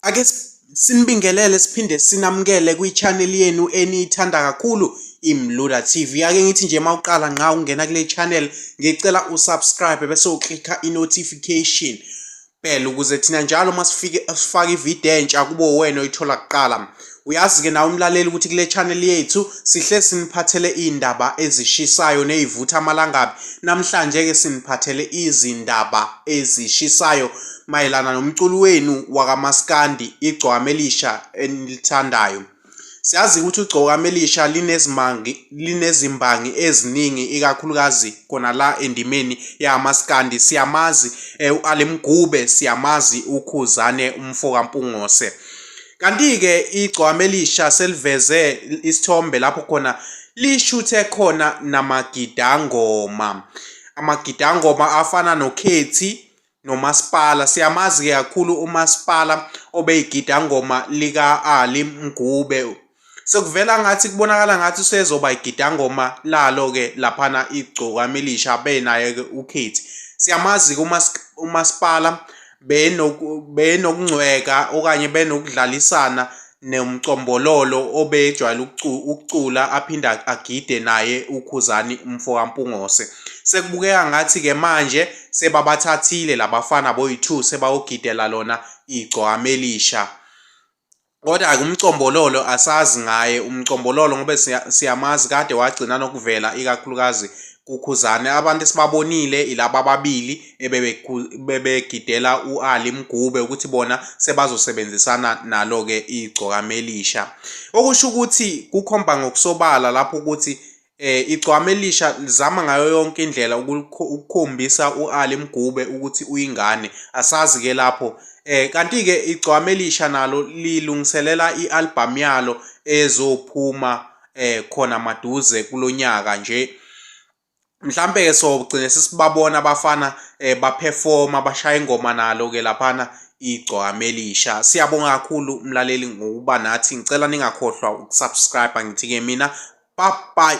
Ake sinibingelele siphinde sinamukele kwi-channel yenu eniyithanda kakhulu imluda TV ake ngithi nje mawuqala nqa ungena kule channel ngicela usubscribe bese uklikha i-notification bell ukuze thina njalo masifike sifaka ivideo entsha kubo wena oyithola kuqala Uyazi-ke nawe umlaleli ukuthi kule channel yethu sihle siniphathele iy'ndaba ezishisayo ney'vutha amalangabi. Namhlanje-ke siniphathele izindaba ezishisayo mayelana nomculi wenu wakamaskandi igcwame elisha enilithandayo. Siyazi ukuthi ugcoka amelisha linezimbangi linezimbangi eziningi ikakhulukazi khona la endimeni yamaskandi siyamazi eh, u-alemgube siyamazi ukhuzane umfo kampungose Kanti-ke igcwame elisha seliveze isithombe lapho khona lishuthe khona namagidangoma. Amagidangoma afana nokhethi nomasipala siyamazi-ke kakhulu umasipala obeyigidangoma lika-ali mgube Sekuvela ngathi kubonakala ngathi usezoba igidangoma lalo-ke laphana igcokama elisha benaye-ke ukhethi siyamazi-ke umasipala benokungcweka okanye benokudlalisana nomcombololo obejwayele ukucula aphinde agide naye ukhuzani umfokampungose sekubukeka ngathi-ke manje sebabathathile labafana boyi-two sebawogidela lona igcwama elisha kodwa ke umcombololo asazi ngaye umcombololo ngoba siyamazi kade wagcina nokuvela ikakhulukazi kukhuzane abantu esibabonile ilaba ababili ebebegidela u-ali mgube ukuthi bona sebazosebenzisana nalo-ke igcokamelisha okusho ukuthi kukhomba ngokusobala lapho ukuthi eh igcwama elisha lizama ngayo yonke indlela ukukhombisa uAli Mgube ukuthi uyingane asazi ke lapho eh kanti ke igcwama elisha nalo lilungiselela ialbum yalo ezophuma eh khona maduze kulonyaka nje mhlambe ke sogcine sisibabona abafana eh baperforma bashaya ingoma nalo ke laphana igcwame elisha siyabonga kakhulu mlaleli ngokuba nathi ngicela ningakhohlwa ukusubscribe ngithi-ke mina bye bye